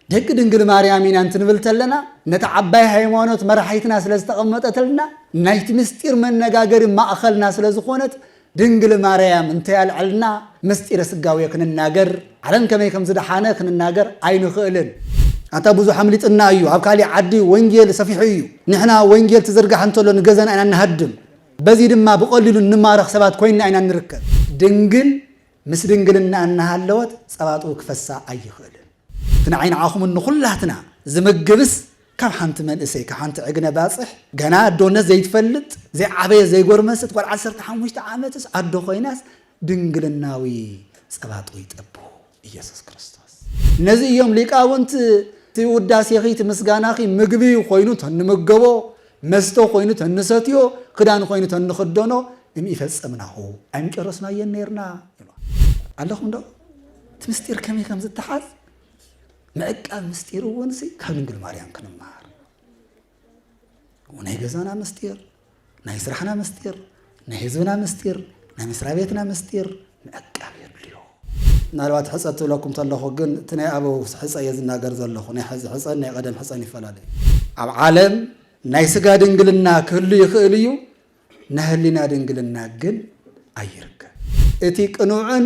ደቂ ድንግል ማርያም ኢና እንትንብል ተለና ነታ ዓባይ ሃይማኖት መራሒትና ስለ ዝተቐመጠትልና ናይቲ ምስጢር መነጋገሪ ማእኸልና ስለ ዝኾነት ድንግል ማርያም እንተያልዐልና ምስጢረ ስጋዌ ክንናገር ዓለም ከመይ ከም ዝደሓነ ክንናገር ኣይንኽእልን። ኣንታ ብዙሕ ኣምሊጥና እዩ ኣብ ካሊእ ዓዲ ወንጌል ሰፊሑ እዩ ንሕና ወንጌል ትዝርጋሕ እንተሎ ንገዛና ኢና ንሃድም በዚ ድማ ብቐሊሉ እንማረኽ ሰባት ኮይንና ኢና ንርከብ። ድንግል ምስ ድንግልና እናሃለወት ጸባ ጡብ ክፈሳ ኣይኽእልን። እቲ ንዓይ ንዓኹምን ንኹላትና ዝምግብስ ካብ ሓንቲ መንእሰይ፣ ካብ ሓንቲ ዕግነ ባጽሕ፣ ገና ኣዶነት ዘይትፈልጥ፣ ዘይዓበየት ዘይጎርመሰት ጓል ዓሰርተ ሓሙሽተ ዓመትስ ኣዶ ኮይናስ ድንግልናዊ ጸባ ጡብ ይጠብው ኢየሱስ ክርስቶስ። ነዚ እዮም ሊቃውንት እቲ ውዳሴኺ እቲ ምስጋናኺ ምግቢ ኮይኑ እንተ እንምገቦ መስተ ኮይኑ ተንሰትዮ ክዳን ኮይኑ ተንኽደኖ እምኢፈጸምናሁ፣ ኣይምጨረስናዮን ኔርና ይብልዋ። ኣለኹምዶ? እቲ ምስጢር ከመይ ከም ዝተሓዝ ምዕቃብ ምስጢር እውን ካብ ድንግል ማርያም ክንመሃር ናይ ገዛና ምስጢር ናይ ስራሕና ምስጢር ናይ ህዝብና ምስጢር፣ ናይ መስሪያ ቤትና ምስጢር ምዕቃብ የድልዮ። ምናልባት ሕፀ ትብለኩም ተለኹ ግን እቲ ናይ ኣበው ሕፀ እየ ዝናገር ዘለኹ። ናይ ሐዚ ሕፀን ናይ ቐደም ሕፀን ይፈላለ እዩ። ኣብ ዓለም ናይ ስጋ ድንግልና ክህሉ ይኽእል እዩ፣ ናይ ህሊና ድንግልና ግን ኣይርከብ። እቲ ቅኑዕን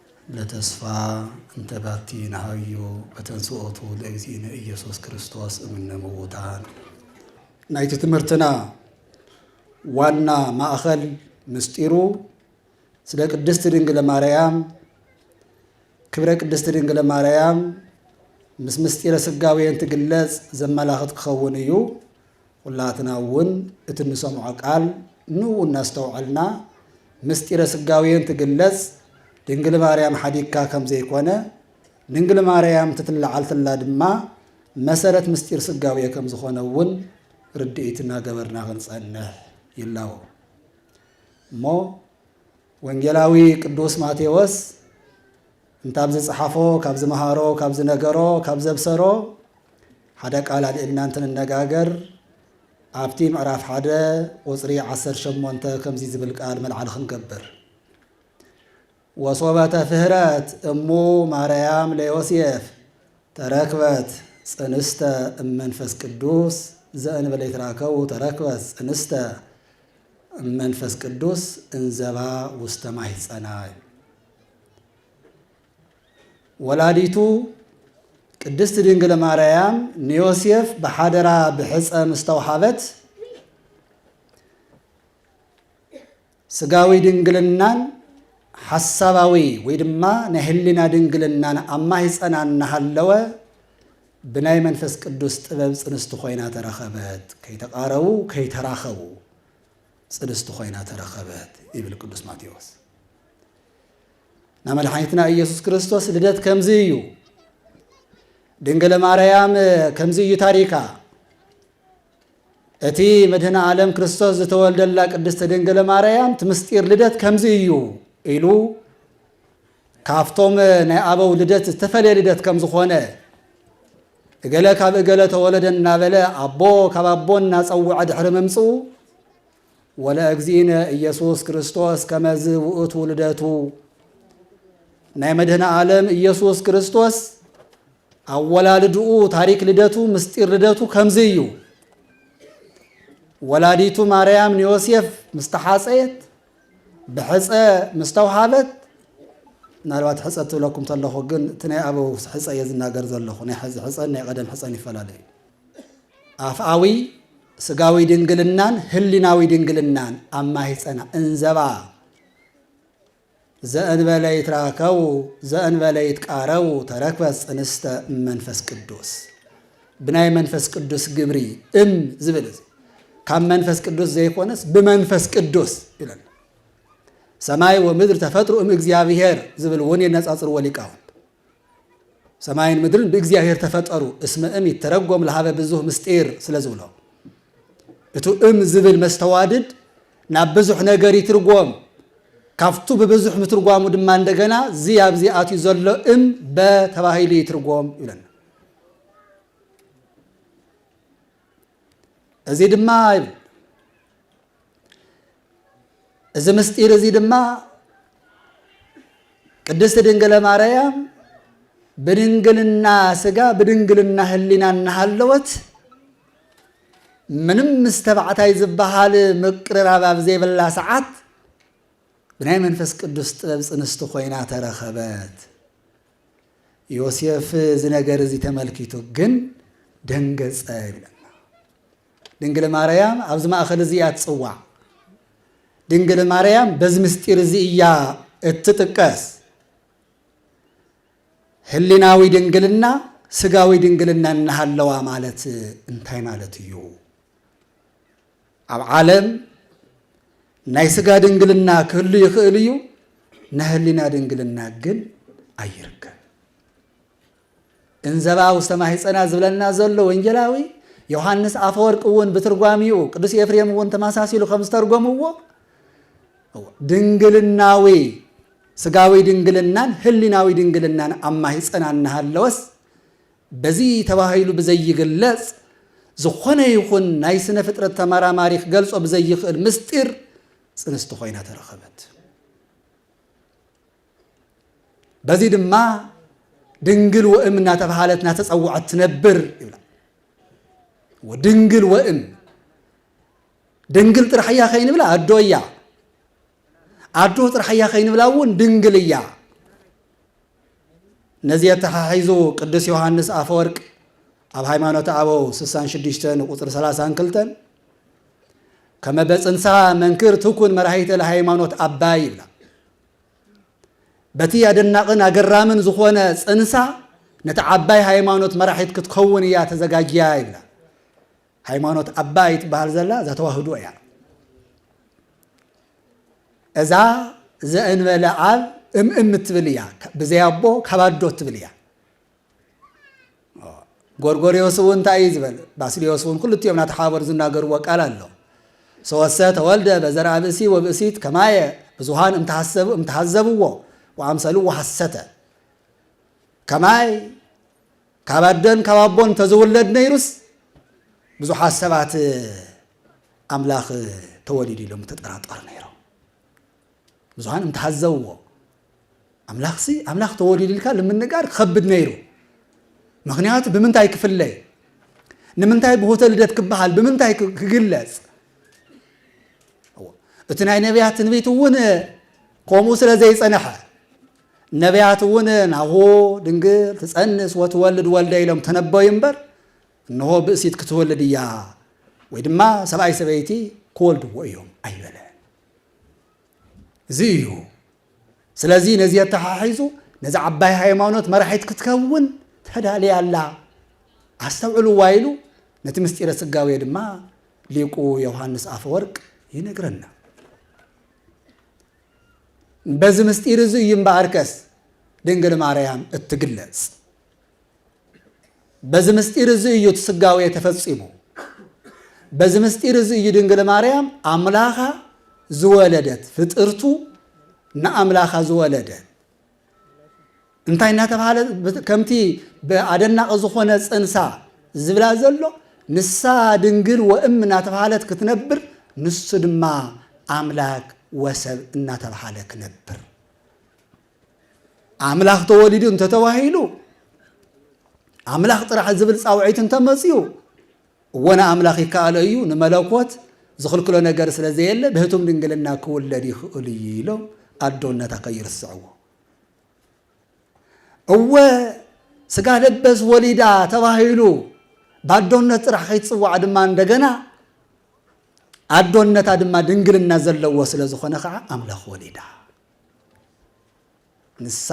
ለተስፋ እንተ ባቲ ነሃዩ በተንሥኦቱ ለእግዚእነ ኢየሱስ ክርስቶስ እምነ ምዉታን። ናይቲ ትምህርትና ዋና ማእኸል ምስጢሩ ስለ ቅድስት ድንግለ ማርያም ክብረ ቅድስት ድንግለ ማርያም ምስ ምስጢረ ስጋዌን ትግለጽ ዘመላኽት ክኸውን እዩ። ኹላትና እውን እቲ እንሰምዖ ቃል ን እናስተውዐልና ምስጢረ ስጋዌ እንትግለፅ ድንግል ማርያም ሓዲግካ ከምዘይኮነ ድንግል ማርያም ትትለዓልትላ ድማ መሰረት ምስጢር ስጋዌ ከምዝኾነ እውን ርድኢት እናገበርና ክንፀንሕ ይላወ እሞ ወንጌላዊ ቅዱስ ማቴዎስ እንተ ኣብ ዝጸሓፎ፣ ካብ ዝመሃሮ፣ ካብ ዝነገሮ፣ ካብ ዘብሰሮ ሓደ ቃል ኣልዒልና እንትንነጋገር ኣብቲ ምዕራፍ ሓደ ቁጽሪ ዓሰርተ ሸሞንተ ከምዚ ዝብል ቃል መልዓሊ ክንገብር ወሶበ ተፍህረት እሙ ማርያም ለዮሴፍ ተረክበት ጽንስተ እመንፈስ ቅዱስ ዘእንበለ ይትራከቡ ተረክበት ጽንስተ እመንፈስ ቅዱስ እንዘባ ውስተ ማሕጸና ወላዲቱ ቅድስት ድንግል ማርያም ንዮሴፍ ብሓደራ ብሕፀ ምስተውሃበት ስጋዊ ድንግልናን ሓሳባዊ ወይ ድማ ናይ ህሊና ድንግልናን ኣብ ማህፀና እናሃለወ ብናይ መንፈስ ቅዱስ ጥበብ ፅንስቲ ኮይና ተረኸበት። ከይተቃረቡ ከይተራኸቡ ጽድስቲ ኮይና ተረኸበት ይብል ቅዱስ ማቴዎስ። ናይ መድሓኒትና ኢየሱስ ክርስቶስ ልደት ከምዚ እዩ። ድንግለ ማርያም ከምዚ እዩ ታሪካ። እቲ መድህነ ዓለም ክርስቶስ ዝተወልደላ ቅድስቲ ድንግለ ማርያም እቲ ምስጢር ልደት ከምዚ እዩ ኢሉ ካብቶም ናይ ኣበው ልደት ዝተፈለየ ልደት ከም ዝኾነ እገለ ካብ እገለ ተወለደ እናበለ ኣቦ ካብ ኣቦ እናጸውዐ ድሕሪ ምምጽኡ ወለእግዚእነ ኢየሱስ ክርስቶስ ከመዝ ውእቱ ልደቱ ናይ መድህነ ዓለም ኢየሱስ ክርስቶስ ኣወላልድኡ ታሪክ ልደቱ ምስጢር ልደቱ ከምዚ እዩ ወላዲቱ ማርያም ንዮሴፍ ምስ ተሓፀየት ብሕጸ ምስ ተውሃበት ምናልባት ሕጸ ትብለኩም ተለኹ ግን እቲ ናይ ኣበው ሕጸ እየ ዝናገር ዘለኹ ናይ ሕዚ ሕጸን ናይ ቀደም ሕጸን ይፈላለ እዩ ኣፍኣዊ ስጋዊ ድንግልናን ህሊናዊ ድንግልናን ኣብ ማህጸና እንዘባ ዘእንበለ ይትራከቡ ዘእንበለ ይትቃረቡ ተረክበት ጽንስተ መንፈስ ቅዱስ ብናይ መንፈስ ቅዱስ ግብሪ እም ዝብል እዚ ካብ መንፈስ ቅዱስ ዘይኮነስ ብመንፈስ ቅዱስ ይብለና። ሰማይ ወምድር ተፈጥሩ እም እግዚኣብሔር ዝብል እውን የነጻጽርዎ ሊቃውንት። ሰማይን ምድርን ብእግዚኣብሔር ተፈጠሩ እስመ እም ይተረጎም ለሃበ ብዙህ ምስጢር ስለ ዝብሎ እቱ እም ዝብል መስተዋድድ ናብ ብዙሕ ነገር ይትርጎም ካብቱ ብብዙሕ ምትርጓሙ ድማ እንደገና እዚ ኣብዚ ኣትዩ ዘሎ እም በተባሂሉ ይትርጎም ይብለና። እዚ ድማ ይብል እዚ ምስጢር እዚ ድማ ቅድስት ድንግለ ማርያም ብድንግልና ስጋ ብድንግልና ህሊና እናሃለወት ምንም ምስ ተባዕታይ ዝበሃል ምቅርራብ ኣብ ዘይብላ ሰዓት ብናይ መንፈስ ቅዱስ ጥበብ ፅንስቲ ኮይና ተረኸበት። ዮሴፍ እዚ ነገር እዚ ተመልኪቱ ግን ደንገጸ ይብለና። ድንግል ማርያም ኣብዚ ማእኸል እዚ እያ ትጽዋዕ። ድንግል ማርያም በዚ ምስጢር እዚ እያ እትጥቀስ። ህሊናዊ ድንግልና ስጋዊ ድንግልና እናሃለዋ ማለት እንታይ ማለት እዩ? ኣብ ዓለም ናይ ስጋ ድንግልና ክህሉ ይኽእል እዩ፣ ናይ ህሊና ድንግልና ግን ኣይርከብ። እንዘባ ውስተ ማሕፀና ዝብለና ዘሎ ወንጌላዊ ዮሐንስ ኣፈወርቅ እውን ብትርጓሚኡ ቅዱስ ኤፍሬም እውን ተመሳሲሉ ከም ዝተርጎምዎ ድንግልናዊ ስጋዊ ድንግልናን ህሊናዊ ድንግልናን ኣብ ማሕፀና እናሃለወስ በዚ ተባሂሉ ብዘይግለጽ፣ ዝኾነ ይኹን ናይ ስነ-ፍጥረት ተመራማሪ ክገልጾ ብዘይክእል ምስጢር ጽንስቲ ኮይና ተረኸበት። በዚ ድማ ድንግል ወእም እናተባሃለት እናተጸውዐት ትነብር ይብላ። ወድንግል ወእም ድንግል ጥራሕ እያ ከይንብላ ኣዶ እያ ኣዶ ጥራሕ እያ ከይንብላ እውን ድንግል እያ። ነዚ ኣተሓሒዙ ቅዱስ ዮሃንስ ኣፈወርቅ ኣብ ሃይማኖት ኣበው 66 ንቁፅሪ 32 ከመ በፅንሳ መንክር ትኩን መራሂተ ለሃይማኖት ኣባይ ይብላ በቲ ኣደናቕን ኣገራምን ዝኾነ ፅንሳ ነቲ ዓባይ ሃይማኖት መራሒት ክትከውን እያ ተዘጋጅያ ይብላ ሃይማኖት ኣባይ ትበሃል ዘላ እዛ ተዋህዶ እያ። እዛ ዘእንበለ ኣብ እምእም እትብል እያ። ብዘይ ኣቦ ካብ ኣዶ እትብል እያ። ጎርጎርዮስ እውን እንታይ እዩ ዝበል? ባስልዮስ እውን ክልቲኦም ናተሓባበሩ ዝናገርዎ ቃል ኣሎ። ሰወሰ ተወልደ በዘርኣ ብእሲ ወብእሲት ከማየ ብዙሃን እምተሃዘብዎ ወኣምሰልዎ ሐሰተ ከማይ ካብ ኣደን ካብ ኣቦን ተዝውለድ ነይሩስ ብዙሓት ሰባት ኣምላኽ ተወሊዱ ኢሎም ተጠራጠሩ ነይሮም። ብዙሃን እንተሃዘብዎ ኣምላኽሲ ኣምላኽ ተወሊዱ ኢልካ ንምንጋር ክኸብድ ነይሩ። ምክንያቱ ብምንታይ ክፍለይ ንምንታይ ብሆተ ልደት ክበሃል ብምንታይ ክግለጽ እቲ ናይ ነቢያት ትንቢት እውን ከምኡ ስለ ዘይጸንሐ ነብያት እውን ናሁ ድንግል ትፀንስ ወትወልድ ወልደ ኢሎም ተነበዩ እምበር እንሆ ብእሲት ክትወልድ እያ ወይ ድማ ሰብኣይ ሰበይቲ ክወልድዎ እዮም ኣይበለ እዚ እዩ ስለዚ ነዚ የተሓሒዙ ነዚ ዓባይ ሃይማኖት መራሒት ክትከውን ተዳልያ ኣላ ኣስተውዕልዋ ኢሉ ነቲ ምስጢረ ስጋዌ ድማ ሊቁ ዮሃንስ ኣፈወርቅ ይነግረና በዚ ምስጢር እዚ እዩ እምበኣርከስ ድንግል ማርያም እትግለጽ። በዚ ምስጢር እዚ እዩ እቲ ስጋዌ ተፈጺሙ። በዚ ምስጢር እዚ እዩ ድንግል ማርያም ኣምላኻ ዝወለደት ፍጥርቱ ንኣምላኻ ዝወለደት እንታይ እናተባህለ ከምቲ ብኣደናቂ ዝኾነ ፅንሳ ዝብላ ዘሎ ንሳ ድንግል ወእም እናተባህለት ክትነብር ንሱ ድማ ኣምላክ ወሰብ እናተባህለ ክነብር ኣምላኽ ተወሊዱ እንተተባሂሉ ኣምላኽ ጥራሕ ዝብል ፃውዒት እንተመፅኡ እወ ንኣምላኽ ይከኣሎ እዩ፣ ንመለኮት ዝኽልክሎ ነገር ስለ ዘየለ ብሕቱም ድንግልና ክውለድ ይኽእል እዩ ኢሎም ኣዶነታ ከይርስዕዎ። እወ ስጋ ለበስ ወሊዳ ተባሂሉ ብኣዶነት ጥራሕ ከይትጽዋዕ ድማ እንደገና ኣዶነታ ድማ ድንግልና ዘለዎ ስለ ዝኾነ ከዓ ኣምላኽ ወሊዳ። ንሳ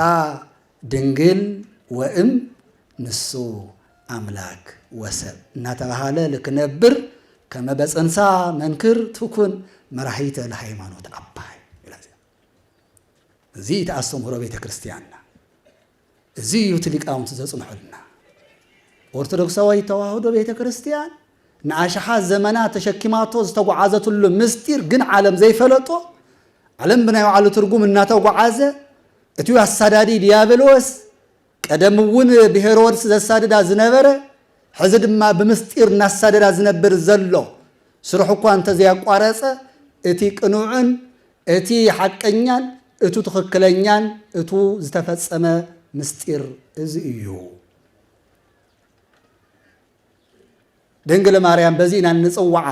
ድንግል ወእም ንሱ ኣምላክ ወሰብ እናተባሃለ ልክነብር ከመ በጽንሳ መንክር ትኩን መራሒተ ለሃይማኖት ኣባይ እዚ እቲ ኣስተምህሮ ቤተ ክርስቲያንና እዚ እዩ እቲ ሊቃውንቲ ዘጽንሑልና ኦርቶዶክሳዊ ተዋህዶ ቤተ ክርስቲያን ንኣሽሓት ዘመናት ተሸኪማቶ ዝተጓዓዘትሉ ምስጢር ግን ዓለም ዘይፈለጦ፣ ዓለም ብናይ ባዕሉ ትርጉም እናተጓዓዘ፣ እቲው ኣሳዳዲ ዲያብሎስ ቀደም እውን ብሄሮድስ ዘሳድዳ ዝነበረ፣ ሕዚ ድማ ብምስጢር እናሳደዳ ዝነብር ዘሎ፣ ስርሑ እኳ እንተዘያቋረጸ እቲ ቅኑዕን እቲ ሓቀኛን እቱ ትኽክለኛን እቱ ዝተፈጸመ ምስጢር እዚ እዩ። ድንግል ማርያም በዚ ኢና እንጽውዓ።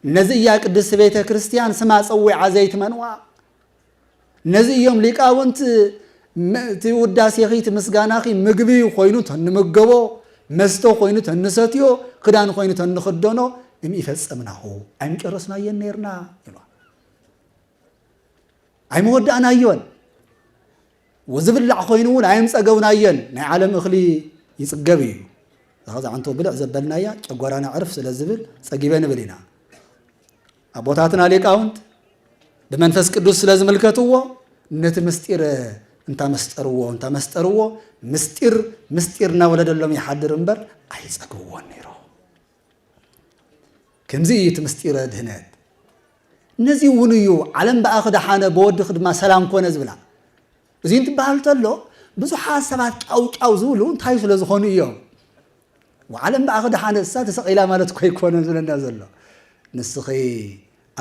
ነዚ እያ ቅድስት ቤተ ክርስቲያን ስማ ጸዊዓ ዘይትመንዋ። ነዚ እዮም ሊቃውንት እቲ ውዳሴኺ እቲ ምስጋናኺ ምግቢ ኮይኑ ተንምገቦ መስተ ኮይኑ ተንሰትዮ ክዳን ኮይኑ ተንኽደኖ እምኢፈጸምናኹ ኣይምጨረስናዮን ነርና ይብሏ ኣይመወዳእናዮን ወዝብላዕ ኮይኑ እውን ኣይምጸገብናዮን ናይ ዓለም እኽሊ ይጽገብ እዩ ዛዕንቶ ብልዕ ዘበልናያ ጨጓራና ዕርፍ ስለ ዝብል ጸጊበ ንብል ኢና ኣቦታትና ሊቃውንት ብመንፈስ ቅዱስ ስለ ዝምልከትዎ ነቲ ምስጢር እንታመስጠርዎ እንታመስጠርዎ ምስጢር ምስጢር እናወለደሎም ይሓድር እምበር ኣይጸግብዎን ነይሮ ከምዚ እዩ እቲ ምስጢረ ድህነት። ነዚ እውን እዩ ዓለም ብኣኺ ደሓነ ብወድኺ ድማ ሰላም ኮነ ዝብላ። እዚ እንትበሃል እንተሎ ብዙሓት ሰባት ጫውጫው ዝብሉ እንታይ ስለ ዝኾኑ እዮም? ዓለም ብኣኺ ደሓነ እሳ ተሰቒላ ማለት እኮ ይኮነ ዝብለና ዘሎ። ንስኺ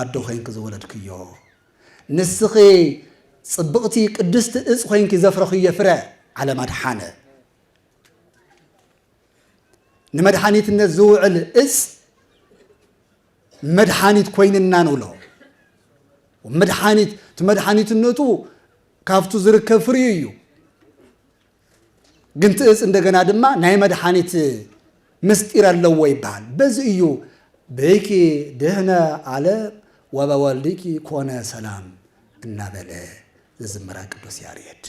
ኣዶ ኮይንኪ ዝወለድክዮ፣ ንስኺ ጽብቕቲ ቅድስቲ እጽ ኮይንኪ ዘፍረኽዮ ፍረ ዓለም ኣድሓነ። ንመድሓኒትነት ዝውዕል እፅ መድሓኒት ኮይንና ንብሎ መድሓኒት እቲ መድሓኒትነቱ ካብቱ ዝርከብ ፍርዩ እዩ ግን እቲ እፅ እንደገና ድማ ናይ መድሓኒት ምስጢር ኣለዎ ይበሃል በዚ እዩ ብኪ ድህነ ኣለ ወበወልድኪ ኮነ ሰላም እናበለ ዝዝምራ ቅዱስ ያሬድ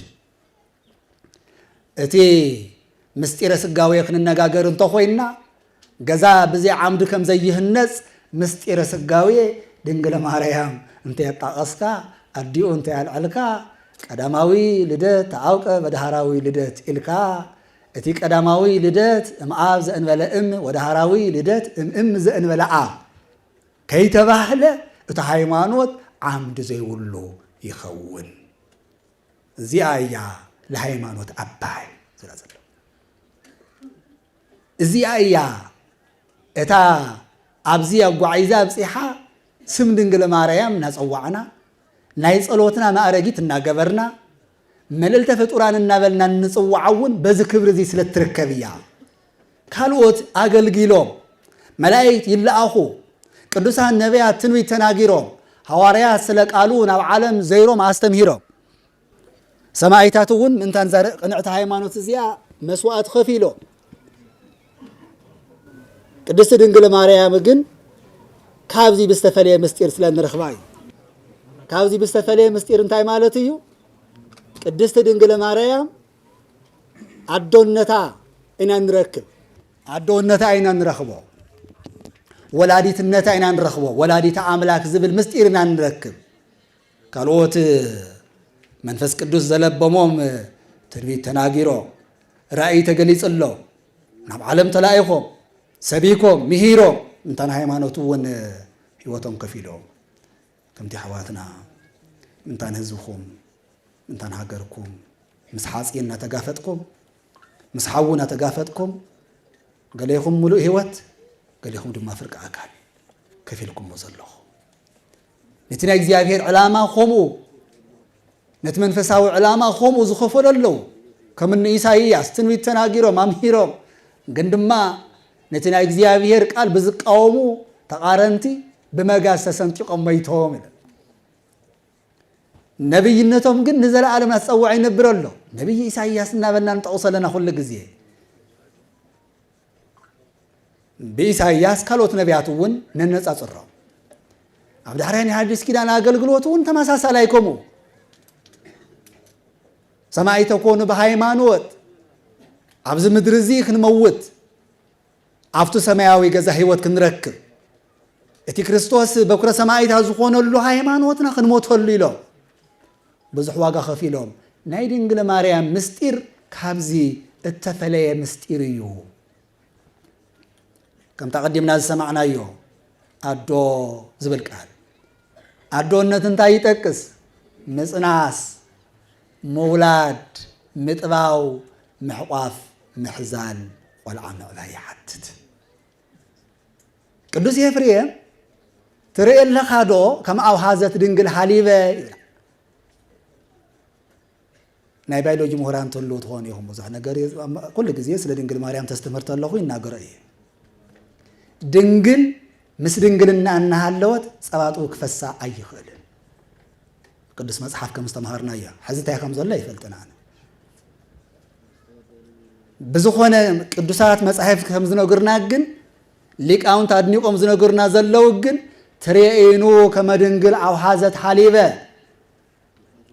እቲ ምሥጢረ ሥጋዌ ክንነጋገር እንተኾይንና ገዛ ብዘይ ዓምዲ ከም ዘይህነጽ ምሥጢረ ሥጋዌ ድንግለ ማርያም እንተየጣቐስካ ኣዲኡ እንተያልዐልካ ቀዳማዊ ልደት ተአውቀ በዳህራዊ ልደት ኢልካ እቲ ቀዳማዊ ልደት እምኣብ ዘእንበለ እም ወዳህራዊ ልደት እምእም ዘእንበለ ኣብ ከይተባህለ እቲ ሃይማኖት ዓምዲ ዘይብሉ ይኸውን። እዚኣ እያ ለሃይማኖት ኣባይ ዝላ ዘሎ እዚኣ እያ እታ ኣብዚ ኣጓዒዛ ኣብፂሓ ስም ድንግል ማርያም እናፀዋዕና ናይ ፀሎትና ማእረጊት እናገበርና መልእልተ ፍጡራን እናበልና እንፅዋዓ እውን በዚ ክብሪ እዚ ስለ እትርከብ እያ ካልኦት ኣገልጊሎም፣ መላኢክት ይለኣኹ፣ ቅዱሳን ነቢያት ትንቢት ተናጊሮም፣ ሃዋርያት ስለ ቃሉ ናብ ዓለም ዘይሮም ኣስተምሂሮም፣ ሰማኢታት እውን ምእንታን እዛ ቅንዕቲ ሃይማኖት እዚኣ መስዋእቲ ከፊሎም። ቅድስቲ ድንግል ማርያም ግን ካብዚ ብዝተፈለየ ምስጢር ስለ ንረኽባ እዩ። ካብዚ ብዝተፈለየ ምስጢር እንታይ ማለት እዩ? ቅድስቲ ድንግል ማርያም ኣዶነታ ኢና ንረክብ ኣዶነታ ኢና ንረኽቦ ወላዲትነታ ኢና ንረኽቦ ወላዲተ ኣምላክ ዝብል ምስጢር ኢና ንረክብ ካልኦት መንፈስ ቅዱስ ዘለበሞም ትንቢት ተናጊሮ ራእይ ተገሊጽሎ ናብ ዓለም ተላኢኾም ሰቢኮም ምሂሮም እንታን ሃይማኖት እውን ህይወቶም ከፊሎም ከምቲ ኣሕዋትና ምእንታን ህዝብኹም ምእንታን ሃገርኩም ምስ ሓፂን እናተጋፈጥኩም ምስ ሓዊ እናተጋፈጥኩም ገሌኹም ሙሉእ ህይወት ገሌኹም ድማ ፍርቂ ኣካል ከፊልኩሞ ዘለኹም ነቲ ናይ እግዚኣብሔር ዕላማ ከምኡ ነቲ መንፈሳዊ ዕላማ ኸምኡ ዝኸፈሉ ኣለዉ። ከም እኒ ኢሳይያስ ትንቢት ተናጊሮም ኣምሂሮም ግን ድማ ነቲ ናይ እግዚኣብሄር ቃል ብዝቃወሙ ተቓረንቲ ብመጋዝ ተሰንጢቖም መይቶም ኢለ ነብይነቶም ግን ንዘለኣለም ኣፀዋዕ ይነብር ኣሎ ነብይ ኢሳይያስ እናበልና ንጠቕሶ ኣለና ኩሉ ግዜ ብኢሳይያስ ካልኦት ነቢያት እውን ነነጻጽሮም ኣብ ዳሕራይ ናይ ሓዲስ ኪዳን ኣገልግሎት እውን ተመሳሳላይ ከምኡ ሰማይ ተኮኑ ብሃይማኖት ኣብዚ ምድሪ እዚ ክንመውት ኣብቲ ሰማያዊ ገዛ ህይወት ክንረክብ እቲ ክርስቶስ በኩረ ሰማይታት ዝኾነሉ ሃይማኖትና ክንሞተሉ ኢሎም ብዙሕ ዋጋ ከፊሎም። ናይ ድንግል ማርያም ምስጢር ካብዚ እተፈለየ ምስጢር እዩ። ከምታ ቀዲምና ዝሰማዕናዮ ኣዶ ዝብል ቃል ኣዶነት እንታይ ይጠቅስ? ምጽናስ፣ ምውላድ፣ ምጥባው፣ ምሕቋፍ፣ ምሕዛል፣ ቆልዓ ምዕባይ ይሓትት። ቅዱስ ኤፍሬም ትርኢ ኣለኻ ዶ ከም ኣውሃዘት ድንግል ሃሊበ ይብላ ናይ ባዮሎጂ ምሁራን ተልዉ ትኾኑ ኢኹም ብዙሕ ነገር ኩሉ ግዜ ስለ ድንግል ማርያም ተስተምህር ተለኹ ይናገሮ እየ ድንግል ምስ ድንግልና እናሃለወት ፀባጡ ክፈሳ ኣይኽእልን ቅዱስ መጽሓፍ ከም ዝተምሃርናዮ ሕዚ እንታይ ከም ዘሎ ኣይፈልጥን ኣነ ብዝኾነ ቅዱሳት መጻሕፍት ከም ዝነግርና ግን ሊቃውንት ኣድኒቆም ዝነግርና ዘለዉ ግን ትሬኢኑ ከመ ድንግል ኣውሓዘት ሓሊበ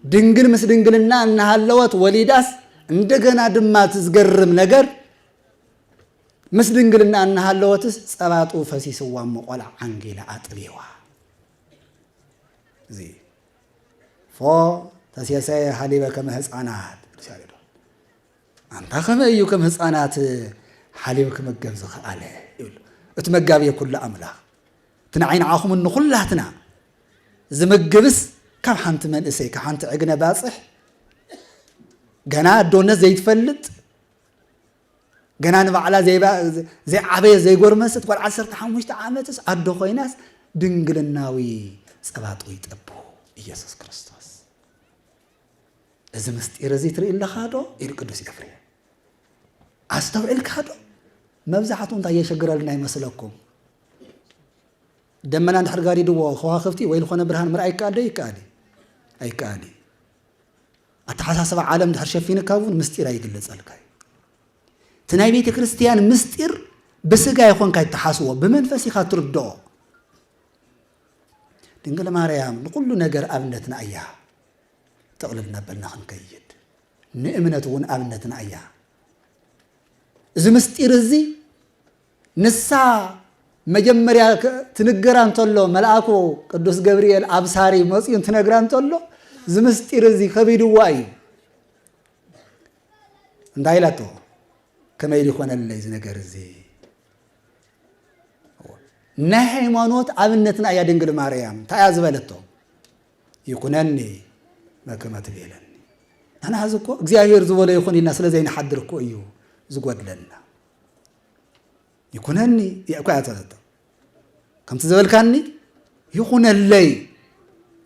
ድንግል ምስ ድንግልና እናሃለወት ወሊዳስ እንደገና ድማ እቲ ዝገርም ነገር ምስ ድንግልና እናሃለወትስ ጸባጡ ፈሲስዋ እሞ ቆልዓ ዓንጊላ ኣጥቢዋ እዚ ፎ ተሴሰየ ሃሊበ ከመ ህፃናት ቅዱስ ያሬድ ኣንታ ከመ እዩ ከም ህፃናት ሓሊብ ክመገብ ዝኸኣለ ይብሉ እቲ መጋቢ ኩሉ ኣምላኽ እቲ ንዓይ ንዓኹም ንኹላትና ዝምግብስ ካብ ሓንቲ መንእሰይ ካብ ሓንቲ ዕግነ ባፅሕ ገና ኣዶነት ዘይትፈልጥ ገና ንባዕላ ዘይዓበየት ዘይጎርመስት ጓል ዓሰርተ ሓሙሽተ ዓመትስ ኣዶ ኮይናስ ድንግልናዊ ጸባጡ ይጠቡ ኢየሱስ ክርስቶስ እዚ ምስጢር እዚ ትርኢ ኣለኻ ዶ ኢሉ ቅዱስ ኤፍሬም ኣስተውዒልካ ዶ መብዛሕትኡ እንታይ የሸግረልና ይመስለኩም ደመና እንድሕር ጋሪድዎ ከዋኽብቲ ወይ ዝኾነ ብርሃን ምርኣይ ይከኣል ዶ ይከኣል ኣይከኣል ኣተሓሳስባ ዓለም ድሕር ሸፊንካ እውን ምስጢር ኣይግለጸልካ እዩ እቲ ናይ ቤተ ክርስቲያን ምስጢር ብስጋ ይኾንካ ይተሓስቦ ብመንፈስ ኢኻ ትርድኦ ድንግል ማርያም ንኩሉ ነገር ኣብነትና እያ ጥቕልል እናበልና ክንከይድ ንእምነት እውን ኣብነትና እያ እዚ ምስጢር እዚ ንሳ መጀመርያ ትንገራ እንተሎ መልኣኩ ቅዱስ ገብርኤል ኣብሳሪ መፅኡ እንትነግራ እንተሎ እዚ ምስጢር እዚ ከቢድዋ እዩ እንታይ ኢላቶ ከመይ ሊኾነለይ እዚ ነገር እዚ ናይ ሃይማኖት ኣብነትና እያ ድንግል ማርያም እንታይ እያ ዝበለቶ ይኩነኒ መከመ ትቤለኒ ንሕና ሕዚ እኮ እግዚኣብሔር ዝበሎ ይኹን ኢልና ስለ ዘይንሓድር እኮ እዩ ዝጎድለና ይኩነኒ እያ እኳ እያ ዝበለቶ ከምቲ ዝበልካኒ ይኹነለይ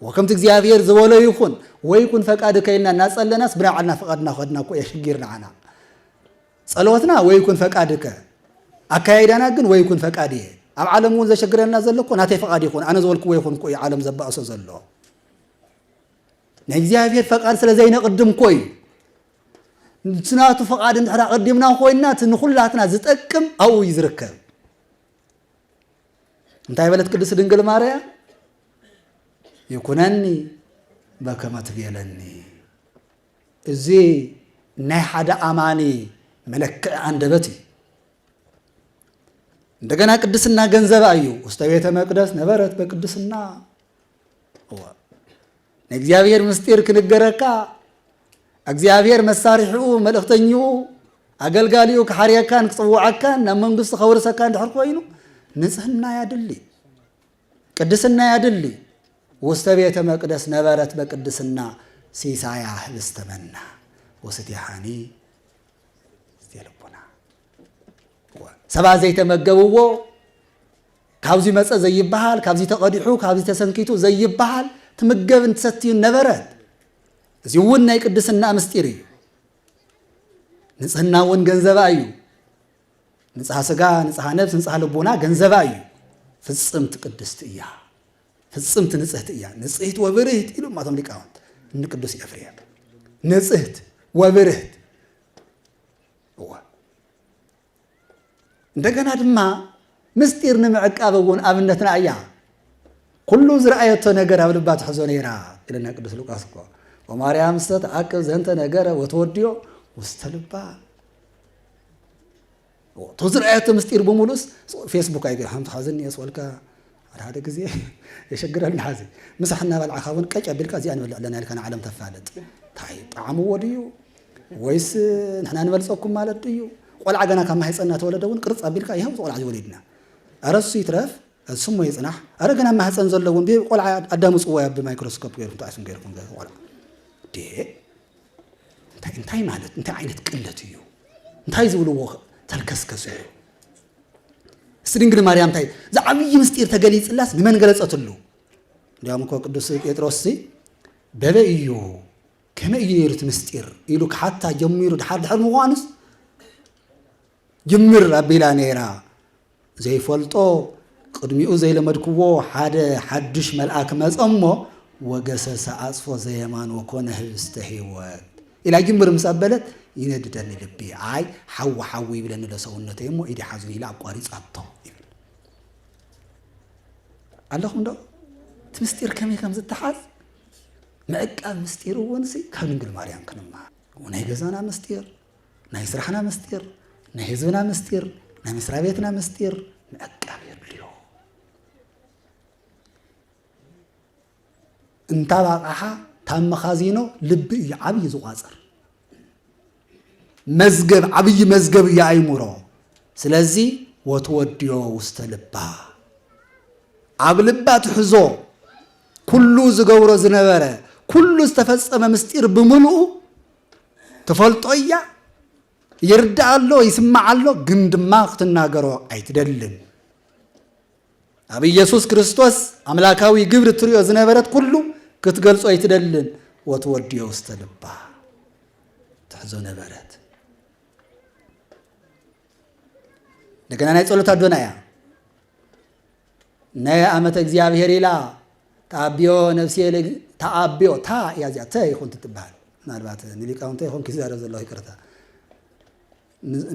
ወከምቲ እግዚኣብሔር ዝበሎ ይኹን ወይ ይኩን ፈቃድ ከይልና እናፀለናስ ብናይ ባዕልና ፈቃድ እናኸድና እኮ እየ ሽጊር ንዓና ፀሎትና ወይ ይኩን ፈቃድ ከ ኣካያይዳና ግን ወይ ይኩን ፈቃድ እየ ኣብ ዓለም እውን ዘሸግረና ዘሎ እኮ ናተይ ፈቃድ ይኹን ኣነ ዝበልክዎ ይኹን እኮ እዩ ዓለም ዘባእሶ ዘሎ ናይ እግዚኣብሔር ፈቃድ ስለ ዘይነቅድም እኮ እዩ ምስ ናቱ ፍቓድ እንድሕር ኣቐዲምና ኮይንና እቲ ንኹላትና ዝጠቅም ኣብኡ እዩ ዝርከብ። እንታይ በለት ቅድስት ድንግል ማርያም? ይኩነኒ በከመ ትቤለኒ። እዚ ናይ ሓደ ኣማኒ መለክዒ ኣንደበት እዩ። እንደገና ቅድስና ገንዘባ እዩ። ውስተ ቤተ መቅደስ ነበረት በቅድስና ናይ እግዚኣብሔር ምስጢር ክንገረካ እግዚኣብሔር መሳርሒኡ መልእኽተኝኡ ኣገልጋሊኡ ክሓርየካን ክፅውዓካን ናብ መንግስቱ ከወርሰካ እንድሕር ኮይኑ ንፅህና ያድሊ ቅድስና ያድሊ ውስተ ቤተ መቅደስ ነበረት በቅድስና ሲሳያ ህብስተ መና ወስቴሃኒ ሰባት ዘይተመገብዎ ካብዚ መፀ ዘይበሃል ካብዚ ተቐዲሑ ካብዚ ተሰንኪቱ ዘይበሃል ትምገብን ትሰትዩን ነበረት እዚ እውን ናይ ቅድስና ምስጢር እዩ ንፅህና እውን ገንዘባ እዩ ንፅሃ ስጋ ንፅሃ ነብስ ንፅሃ ልቡና ገንዘባ እዩ ፍፅምቲ ቅድስቲ እያ ፍፅምቲ ንፅህቲ እያ ንፅህት ወብርህት ኢሉ ማቶም ሊቃውንት እንቅዱስ ኤፍሬም ንፅህት ወብርህት እወ እንደገና ድማ ምስጢር ንምዕቃብ እውን ኣብነትና እያ ኩሉ ዝረኣየቶ ነገር ኣብ ልባ ትሕዞ ነይራ ኢለና ቅዱስ ሉቃስ እኮ ወማርያም ስተ ተዓቅብ ዘንተ ነገረ ወተወድዮ ውስተ ልባ እቶ ዝረኣየቶ ምስጢር ብምሉስ ፌስቡክ ኣይገ ሓንቲ ሓዝኒ የስወልካ ሓደ ሓደ ግዜ የሸግረልና ሐዚ ምሳሕ እናበልዕኻ እውን ቀጭ ኣቢልካ እዚኣ ንበልዕ ኣለና ኢልካ ንዓለም ተፋልጥ እንታይ ጣዕምዎ ድዩ ወይስ ንሕና ንበልፀኩም ማለት ድዩ ቆልዓ ገና ካብ ማህፀን እናተወለደ እውን ቅርፅ ኣቢልካ ይኸው ቆልዓ ዝወሊድና ኧረ እሱ ይትረፍ ስሙ ይፅናሕ ኧረ ገና ማህፀን ዘሎ እውን ቆልዓ ኣዳምፅዎ ያ ብማይክሮስኮፕ ገይርኩም ተኣስም ገይርኩም ቆልዓ እንታይ ማለት እንታይ ዓይነት ቅለት እዩ እንታይ ዝብልዎ ተልከስከስ እዩ እስቲ ድንግል ማርያም እንታይ ዝዓብዪ ምስጢር ተገሊጽላስ ንመን ገለጸትሉ? እንዲያውም እኮ ቅዱስ ጴጥሮስ ሲ በበይ እዩ ከመይ እዩ ነይሩ እቲ ምስጢር ኢሉ ክሓታ ጀሚሩ ድሓር ድሕር ምዃኑስ ጅምር ኣቢላ ነይራ ዘይፈልጦ ቅድሚኡ ዘይለመድክዎ ሓደ ሓዱሽ መልኣክ መጸ እሞ ወገሰሰ ኣጽፎ ዘየማን ወኮነ ህብስተ ህይወት ኢላ ጅምር ምስ ኣበለት ይነድደኒ ልቢ፣ ኣይ ሓዊ ሓዊ ይብለኒ'ሎ ሰውነተይ እሞ ኢደይ ሓዙኒ ኢላ ኣቋሪጻቶ ይብል። ኣለኹምዶ? እቲ ምስጢር ከመይ ከም ዝተሓዝ ምዕቃብ ምስጢር እውን ካብ ድንግል ማርያም ክንመሃር ናይ ገዛና ምስጢር፣ ናይ ስራሕና ምስጢር፣ ናይ ህዝብና ምስጢር፣ ናይ መስሪያ ቤትና ምስጢር ምዕቃብ የድልዮ። እንታብ ኣቕሓ ታብ መኻዚኖ ልቢ እዩ ዓብዪ ዝቋፅር መዝገብ ዓብዪ መዝገብ እዩ ኣይሙሮ ስለዚ ወትወድዮ ውስተ ልባ ኣብ ልባ ትሕዞ ኩሉ ዝገብሮ ዝነበረ ኩሉ ዝተፈፀመ ምስጢር ብምልኡ ትፈልጦ እያ ይርዳእ ኣሎ ይስማዕ ኣሎ ግን ድማ ክትናገሮ ኣይትደልን ኣብ ኢየሱስ ክርስቶስ ኣምላካዊ ግብሪ ትሪኦ ዝነበረት ኩሉ ክትገልጾ ኣይትደልን ወትወድዮ ውስተ ልባ ትሕዞ ነበረት እንደገና ናይ ጸሎት ኣዶና እያ ናይ ኣመተ እግዚኣብሔር ኢላ ተኣቢዮ ነፍስየ ተኣቢዮ ታ እያ እዚኣ ተ ይኹን ትትበሃል ምናልባት ንሊቃውንተ ይኹን ክዛረብ ዘለኹ ይቅርታ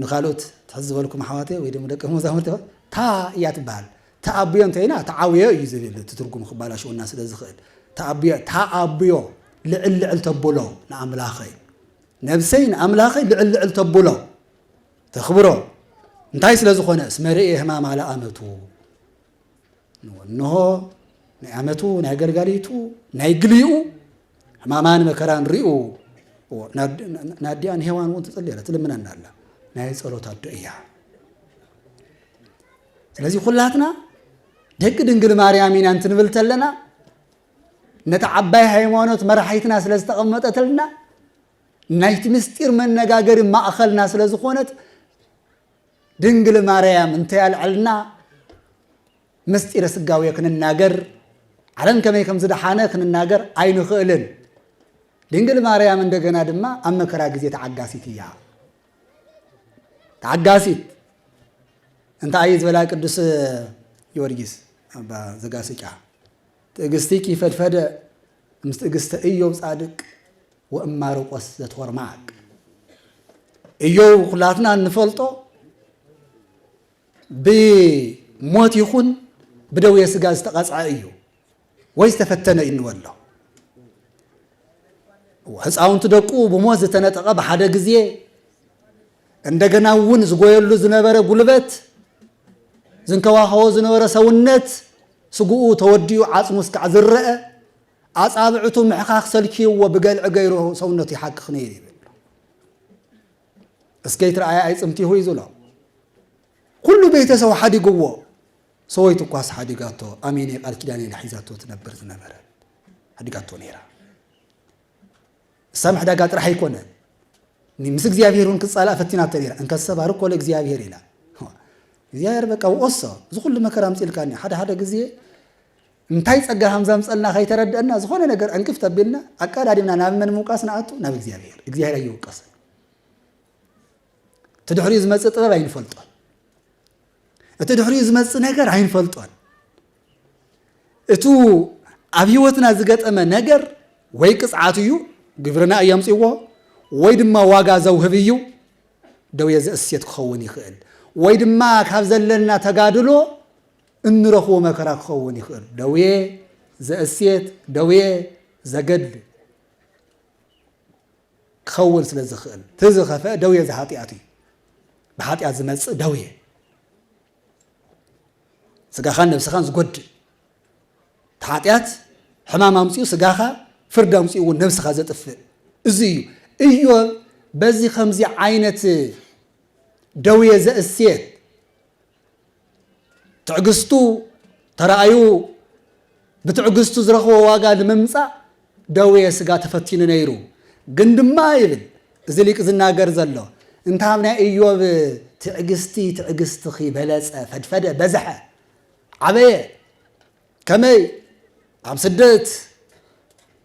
ንካልኦት ትሕዝበልኩም ኣሕዋተ ወይ ድማ ደቂ መዛሙርቲ ታ እያ ትበሃል ተኣቢዮ እንተይና ተዓብዮ እዩ ዝብል እቲ ትርጉም ክባላሽወና ስለ ዝኽእል ተኣቢዮ ተኣቢዮ ልዕል ልዕል ተብሎ ንኣምላኸይ ነብሰይ ንኣምላኸይ ልዕል ልዕል ተብሎ ተኽብሮ እንታይ ስለ ዝኾነ እስመ ርእየ ህማማ ለኣመቱ እንሆ ናይ ኣመቱ ናይ ኣገልጋሊቱ ናይ ግልኡ ሕማማን መከራን ሪኡ ናዲኣን ሄዋን እውን ትፅሊ ኣላ ትልምነና ኣላ ናይ ፀሎት ኣዶ እያ ስለዚ ኩላትና ደቂ ድንግል ማርያም ኢና እንትንብል ተለና ነቲ ዓባይ ሃይማኖት መራሒትና ስለ ዝተቐመጠትልና ናይቲ ምስጢር መነጋገሪ ማእኸልና ስለ ዝኾነት ድንግል ማርያም እንተይ ኣልዕልና ምስጢረ ስጋዌ ክንናገር ዓለም ከመይ ከም ዝደሓነ ክንናገር ኣይንኽእልን። ድንግል ማርያም እንደገና ድማ ኣብ መከራ ግዜ ተዓጋሲት እያ። ተዓጋሲት እንታይ እዩ ዝበላ ቅዱስ ጊዮርጊስ ኣባ ዘጋስጫ ትዕግስትኪ ፈድፈደ ምስ ትእግስተ እዮብ ጻድቅ ወእማርቆስ ዘትወርማቅ እዮብ ኩላትና እንፈልጦ ብሞት ይኹን ብደዌ ስጋ ዝተቐጽዐ እዩ ወይ ዝተፈተነ እዩ እንበሎ ህፃውንቲ ደቁ ብሞት ዝተነጠቐ ብሓደ ግዜ እንደገና እውን ዝጎየሉ ዝነበረ ጉልበት፣ ዝንከባኸቦ ዝነበረ ሰውነት ስግኡ ተወዲኡ ዓጽሙ እስካዕ ዝረኣ፣ ኣጻብዕቱ ምሕካኽ ሰልችይዎ ብገልዒ ገይሩ ሰውነቱ ይሓክኽ ነይሩ ይብል። እስከይ ትርኣያ ኣይጽምቲሁ እዩ ዝብሎ። ኩሉ ቤተሰቡ ሓዲግዎ፣ ሰወይቱ እኳስ ሓዲጋቶ፣ ኣሜነይ ቃል ኪዳን ኢላ ሒዛቶ ትነብር ዝነበረት ሓዲጋቶ ነይራ። ሳምሕ ዳጋ ጥራሕ ኣይኮነን ምስ እግዚኣብሄር እውን ክጻላእ ፈቲናቶ ነይራ እንከሰ ባርኮ ለእግዚኣብሄር ኢላ እግዚኣብሄር በቃ ወኦሶ እዚ ኩሉ መከራ ኣምፅልካኒ ሓደ ሓደ ግዜ እንታይ ጸጋ ከም ዘምፀልና ከይተረድአና ዝኾነ ነገር ዕንቅፍ ተቢልና ኣቀዳዲምና ናብ መን ምውቃስ ንኣቱ ናብ እግዚኣብሄር እግዚኣብሄር ኣይወቀስን እቲ ድሕሪኡ ዝመፅእ ጥበብ ኣይንፈልጦን እቲ ድሕሪኡ ዝመጽእ ነገር ኣይንፈልጦን። እቱ ኣብ ህይወትና ዝገጠመ ነገር ወይ ቅፅዓት እዩ፣ ግብርና እዩ ኣምፅዎ፣ ወይ ድማ ዋጋ ዘውህብ እዩ፣ ደውየ ዘእሴት ክኸውን ይኽእል፣ ወይ ድማ ካብ ዘለና ተጋድሎ እንረኽቦ መከራ ክኸውን ይኽእል። ደውየ ዘእሴት፣ ደውየ ዘገድል። ክኸውን ስለ ዝኽእል እቲ ዝኸፍኣ ደውየ ዘኃጢኣት እዩ። ብኃጢኣት ዝመጽእ ደውየ ስጋኻን ነብስኻን ዝጐድእ እቲ ኃጢኣት ሕማም ኣምጺኡ ስጋኻ ፍርድ ኣምጺኡ እውን ነብስኻ ዘጥፍእ እዚ እዩ እዮብ በዚ ከምዚ ዓይነት ደውየ ዘእስየት ትዕግስቱ ተራእዩ ብትዕግስቱ ዝረኽቦ ዋጋ ንምምፃእ ደዌ ስጋ ተፈቲኑ ነይሩ ግን ድማ ይብል እዚ ሊቅ ዝናገር ዘሎ እንታብ ናይ እዮብ ትዕግስቲ ትዕግስትኺ በለፀ ፈድፈደ በዝሐ ዓበየ ከመይ ኣብ ስደት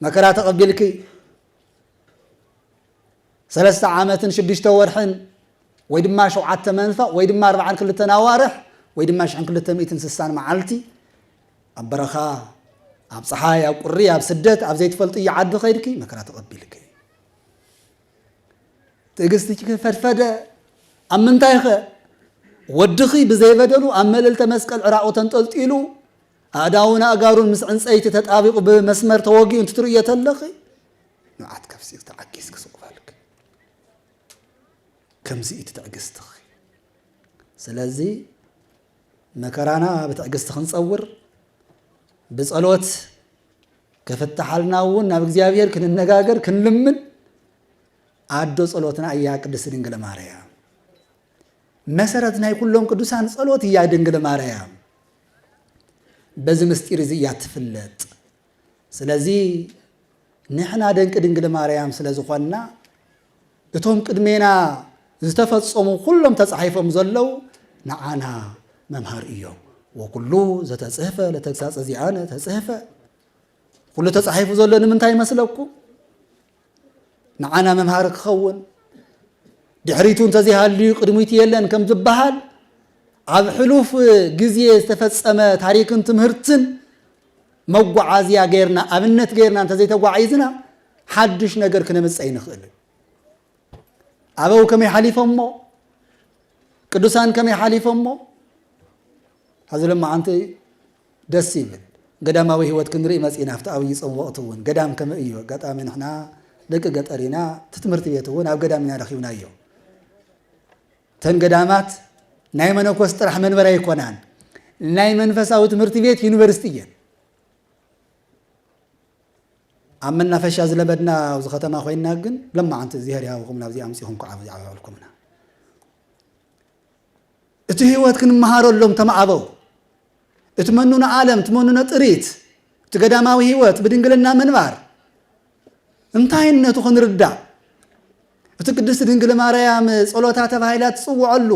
መከራ ተቐቢልኪ ሰለስተ ዓመትን ሽዱሽተ ወርሕን ወይ ድማ ሸውዓተ መንፈቕ ወይ ድማ ኣርብዓን ክልተን ኣዋርሕ ወይ ድማ ሽሕን ክልተ ሚእትን ስሳን መዓልቲ ኣብ በረኻ ኣብ ፀሓይ ኣብ ቁሪ ኣብ ስደት ኣብ ዘይትፈልጥዮ ዓዲ ከይድኪ መከራ ተቐቢልኪ ትዕግስትኪ ፈድፈደ ኣብ ምንታይ ኸ ወድኺ ብዘይበደሉ ኣብ መልእልተ መስቀል ዕራቑ ተንጠልጢሉ ኣእዳውን ኣእጋሩን ምስ ዕንፀይቲ ተጣቢቑ ብመስመር ተወጊኡ እንትትርእዮ ተለኺ ንብዓት ከፍሲል ተዓጊስኪ ስቕ በልኪ። ከምዚ እዩ ትዕግስትኺ። ስለዚ መከራና ብትዕግስቲ ክንፀውር ብፀሎት ከፍትሓልና እውን ናብ እግዚኣብሔር ክንነጋገር ክንልምን ኣዶ ፀሎትና እያ ቅድስት ድንግል ማርያም መሰረት ናይ ኩሎም ቅዱሳን ፀሎት እያ ድንግል ማርያም በዚ ምስጢር እዚ እያ ትፍለጥ ስለዚ ንሕና ደንቂ ድንግል ማርያም ስለ ዝኾንና እቶም ቅድሜና ዝተፈጸሙ ኩሎም ተጻሒፎም ዘለዉ ንዓና መምሃር እዮም ወኩሉ ዘተጽህፈ ለተግሳጸ ዚኣነ ተጽህፈ ኩሉ ተጻሒፉ ዘሎ ንምንታይ ይመስለኩም ንዓና መምሃሪ ክኸውን ድሕሪቱ እንተዘይሃልዩ ቅድሚቱ የለን ከም ዝበሃል ኣብ ሕሉፍ ግዜ ዝተፈፀመ ታሪክን ትምህርትን መጓዓዝያ ገይርና ኣብነት ገይርና እንተዘይተጓዒዝና ሓዱሽ ነገር ክነምፀ ይንኽእል ኣበው ከመይ ሓሊፎሞ ቅዱሳን ከመይ ሓሊፎሞ ሐዚ ሎማዓንቲ ደስ ይብል ገዳማዊ ሂወት ክንርኢ መጺና ኣብቲ ኣብይ ጾም ወቅቲ ውን ገዳም ከምእ እዩ ኣጋጣሚ ንሕና ደቂ ገጠር ኢና እቲ ትምህርቲ ቤት ውን ኣብ ገዳም ኢና ረኪብናዮ እተን ገዳማት ናይ መነኮስ ጥራሕ መንበር ኣይኮናን ናይ መንፈሳዊ ትምህርቲ ቤት ዩኒቨርሲቲ እየን ኣብ መናፈሻ ዝለበድና ኣብዚ ከተማ ኮይና ግን ለማዓንቲ እግዚኣብሔር ይሃብኩም ናብዚ ኣምፂኹም ከዓ ብዛዕባ ዕልኩምና እቲ ህይወት ክንመሃረሎም ተማዕበው እቲ መኑነ ዓለም እቲ መኑነ ጥሪት እቲ ገዳማዊ ህይወት ብድንግልና ምንባር እንታይነቱ ክንርዳእ እቲ ቅድስቲ ድንግል ማርያም ጸሎታ ተባሂላ ትጽውዐሉ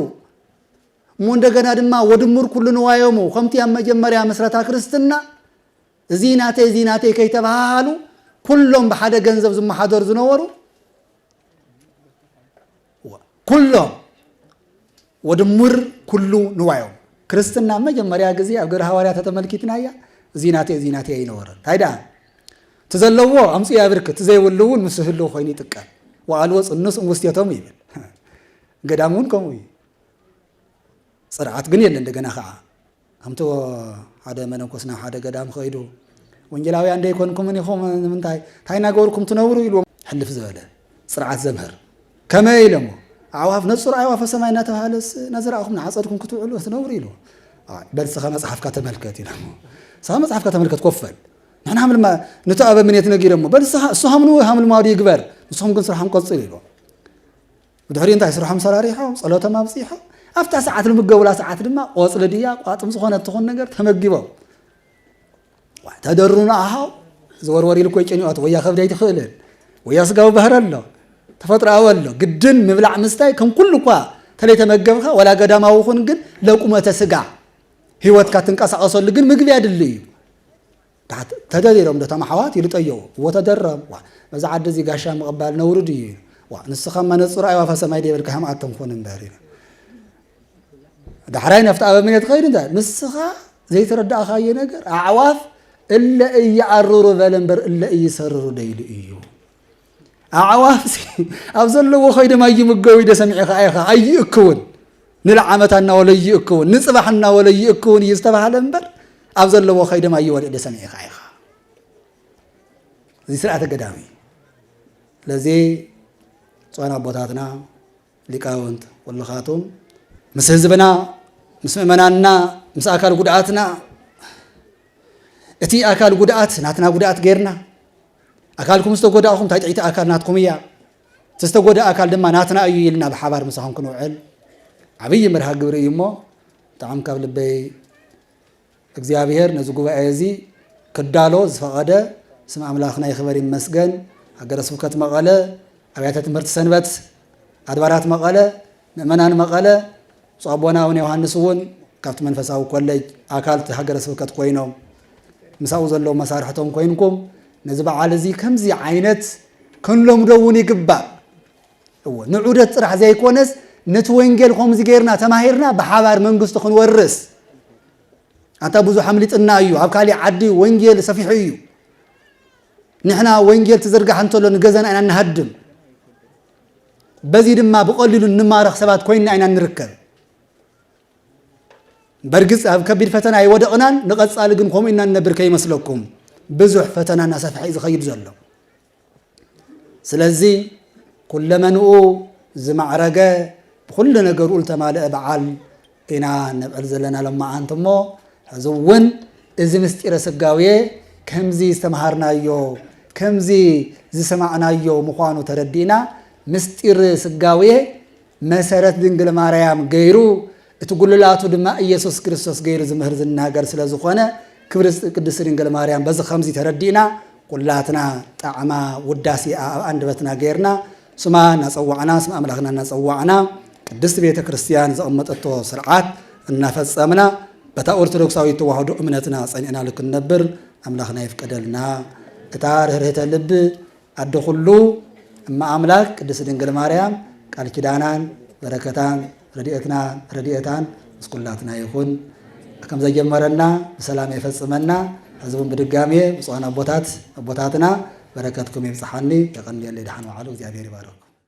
እሞ እንደገና ድማ ወድሙር ኩሉ ንዋዮሙ ከምቲ ኣብ መጀመርያ ምስረታ ክርስትና እዚ ናተይ እዚ ናተይ ከይተባሃሃሉ ኩሎም ብሓደ ገንዘብ ዝመሓደሩ ዝነበሩ ኩሎም ወድሙር ኩሉ ንዋዮም ክርስትና መጀመርያ ግዜ ኣብ ግብረ ሃዋርያ ተተመልኪትናያ እዚ ናተይ እዚ ናተይ ኣይነበረን እንታይ ደኣ እቲ ዘለዎ ኣምፅ ያብርክ እቲ ዘይብሉ እውን ምስ ህሉ ኮይኑ ይጥቀም ወኣልዎ ፅኑስ ውስቴቶም ይብል ገዳም እውን ከምኡ እዩ ፅርዓት ግን የለ እንደገና ከዓ ከምቲ ሓደ መነኮስ ናብ ሓደ ገዳም ከይዱ ወንጌላውያን ደይኮንኩምን ኢኹም ንምንታይ እንታይ እናገበርኩም ትነብሩ ኢልዎም ሕልፍ ዝበለ ስርዓት ዘምህር ከመይ ኢለሞ ኣዕዋፍ ነጹር ኣዕዋፈ ሰማይ እናተባሃለስ እናዘራእኹም ንዓፀድኩም ክትውዕሉ ክትነብሩ ኢሉ በልስኻ መፅሓፍካ ተመልከት ኢሎ ስኻ መፅሓፍካ ተመልከት ኮፈል ንሕና ሃምልማ ነቲ ኣበ ምኔት ነጊረሞ በልስኻ እሱ ሃምሉ ሃምልማዱ ይግበር ንስኹም ግን ስራሕም ቀፅሉ ኢሎ ብድሕሪኡ እንታይ ስርሖም ሰራሪሖም ጸሎቶም ኣብጺሖም ኣብታ ሰዓት ንምገቡላ ሰዓት ድማ ቆጽሊ ድያ ቋጥም ዝኾነ ትኹን ነገር ተመጊቦም ተደሩና ኣሃው ዝወርወር ኢሉ ኮይ ጭንኦት ወያ ከብዲ ኣይትኽእልን ወያ ስጋዊ ባህሪ ኣሎ ተፈጥሮኣዊ ኣሎ ግድን ምብላዕ ምስታይ ከም ኩሉ እኳ ተለይተመገብካ ወላ ገዳማዊ ኹን ግን ለቁመተ ስጋ ህይወትካ ትንቀሳቐሰሉ ግን ምግቢ ኣድሊ እዩ ታሕት ተደሪሮም ዶ እቶም ኣሕዋት ኢሉ ጠየቁ። እዎ ተደረም። ዋእ ነዚ ዓዲ እዚ ጋሻ ምቕባል ነውሪ ድዩ ኢሉ። ዋእ ንስኻም መነጽሩ ኣይዋፈ ሰማይ ደይበልካዮም ኣቶም ኩን እምበር ኢሉ። ዳሕራይ ነፍቲ ኣበምኔት ኸይዱ እንታይ ንስኻ ዘይተረዳእኻዮ ነገር ኣዕዋፍ እለ እየኣርሩ በለ እምበር እለ እይሰርሩ ደይሉ እዩ። ኣዕዋፍ ኣብ ዘለዎ ኮይዶም ኣይምገቡ ኢደ ሰሚዐ ከኣ ኢኻ ኣይእክውን ንልዓመት እናወለ ይእክውን ንፅባሕ እናወለ ይእክውን እዩ ዝተባሃለ እምበር ኣብ ዘለዎ ከይዶም ኣይወለ ኢደ ሰሚዐ ከኣ ኢኻ እዚ ስርዓተ ገዳም እዩ ስለዚ ፅዋን ኣቦታትና ሊቃውንት ኩልኻቶም ምስ ህዝብና ምስ ምእመናንና ምስ ኣካል ጉድኣትና እቲ ኣካል ጉድኣት ናትና ጉድኣት ጌርና ኣካልኩም ዝተጎዳእኹም እንታይ ጥዒቲ ኣካል ናትኩም እያ እቲ ዝተጎድእ ኣካል ድማ ናትና እዩ ኢልና ብሓባር ምሳኹም ክንውዕል ዓብዪ መርሃ ግብሪ እዩ እሞ ብጣዕሚ ካብ ልበይ እግዚኣብሔር ነዚ ጉባኤ እዚ ክዳሎ ዝፈቐደ ስም ኣምላኽና ይኽበር ይመስገን። ሃገረ ስብከት መቐለ፣ ኣብያተ ትምህርቲ ሰንበት፣ ኣድባራት መቐለ፣ ምእመናን መቐለ፣ ብፁዕ ኣቦና ኣቡነ ዮሐንስ እውን ካብቲ መንፈሳዊ ኮሌጅ ኣካል እቲ ሃገረ ስብከት ኮይኖም ምሳኡ ዘለዉ መሳርሕቶም ኮይንኩም ነዚ በዓል እዚ ከምዚ ዓይነት ክንለምዶ እውን ይግባእ። እወ ንዑደት ጥራሕ ዘይኮነስ ነቲ ወንጌል ከምዚ ጌርና ተማሂርና ብሓባር መንግስቱ ክንወርስ ኣታ ብዙሕ ኣምሊጥና እዩ ኣብ ካሊእ ዓዲ ወንጌል ሰፊሑ እዩ ንሕና ወንጌል ትዝርጋሕ እንተሎ ንገዛና ኢና ንሃድም በዚ ድማ ብቐሊሉ እንማረኽ ሰባት ኮይንና ኢና ንርከብ በርግፅ ኣብ ከቢድ ፈተና ኣይወደቕናን ንቐፃሊ ግን ከምኡ ኢና ንነብር ከይመስለኩም ብዙሕ ፈተና እናሰፍሐ እዩ ዝኸይድ ዘሎ ስለዚ ኩለመንኡ ዝማዕረገ ብኩሉ ነገርኡ ዝተማልአ በዓል ኢና ነብዕል ዘለና ሎማዓንቲ እሞ ሕዚ እውን እዚ ምስጢረ ስጋዌ ከምዚ ዝተምሃርናዮ ከምዚ ዝሰማዕናዮ ምዃኑ ተረዲእና ምስጢር ስጋዌ መሰረት ድንግል ማርያም ገይሩ እቲ ጉልላቱ ድማ ኢየሱስ ክርስቶስ ገይሩ ዝምህር ዝናገር ስለ ዝኾነ ክብሪ ቅድስት ድንግል ማርያም በዚ ከምዚ ተረዲእና ኩላትና ጣዕማ ውዳሴኣ ኣብ ኣንደበትና ገይርና ስማ እናጸዋዕና ስም ኣምላኽና እናጸዋዕና ቅድስት ቤተ ክርስቲያን ዘቐመጠቶ ስርዓት እናፈጸምና በታ ኦርቶዶክሳዊት ተዋህዶ እምነትና ጸኒዕናሉ ክንነብር ኣምላኽና ይፍቀደልና እታ ርህርህተ ልቢ ኣደ ኩሉ እመ ኣምላክ ቅድስት ድንግል ማርያም ቃል ኪዳናን በረከታን ረድኤትና ረድኤታን ምስ ኩላትና ይኹን። ከም ዘጀመረና ብሰላም የፈጽመና። ሕዚ እውን ብድጋሜ ብፁዓን ኣቦታት ኣቦታትና በረከትኩም ይብጽሓኒ። የቀንየለይ። ደሓን ወዓሉ። እግዚኣብሔር ይባርኽኩም።